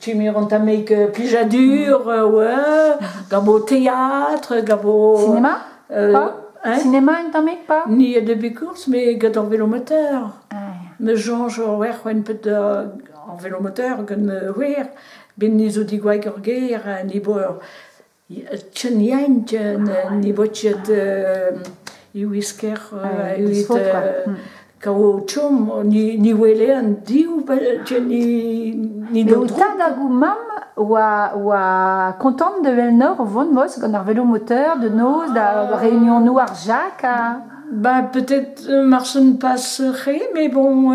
Tumir an tamek plijadur oe gant ho théâtre, gant ho... Sinema? Pas Sinema un tamek pas? Ni a deux bukours, mais gant ar vélomoteur. Me soñj oe c'hwen pet ar vélomoteur gant wir, ben ni zo digouaig ur gêr, ha ni bo ur Tcheniaint ne vo ket e wisker evit kaout chom ni wele an div ni d'an dro. Tad hag o mamm oa kontant da wellnoc'h o vont mos gant ar velomoteur da noz da reunionoù ar Jacques ha... Ba peut-être marchen pas re mais bon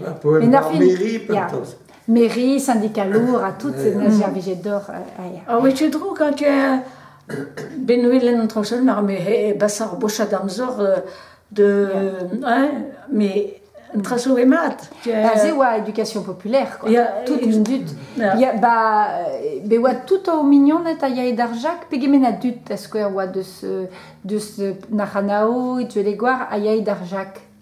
Met ar fin, ya. Mairie, syndicalour ha tout, na servijet d'or. Ha wetu dro, quand Benwelen an Tranchel, mar me he basar bocha d'amzor de... mais traso e mat. Ba se oa éducation populaire, quoi. Tout un dud. Ba, be oa tout o mignoned a yae d'ar Jacques, pegement a dud, a skouer, oa deus, deus Naranao, et Tuelegouar, a yae d'ar Jacques.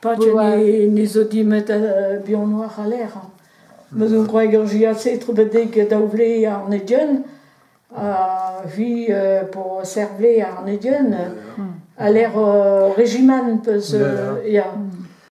Pat ne zo dimet buanoc'h a lec'h. Meus un gwreg ur jiat-se trubedek daou vle ar Nedion. Ha hi po serr vle ar Nedion. Ha lec'h Regiment peus ya.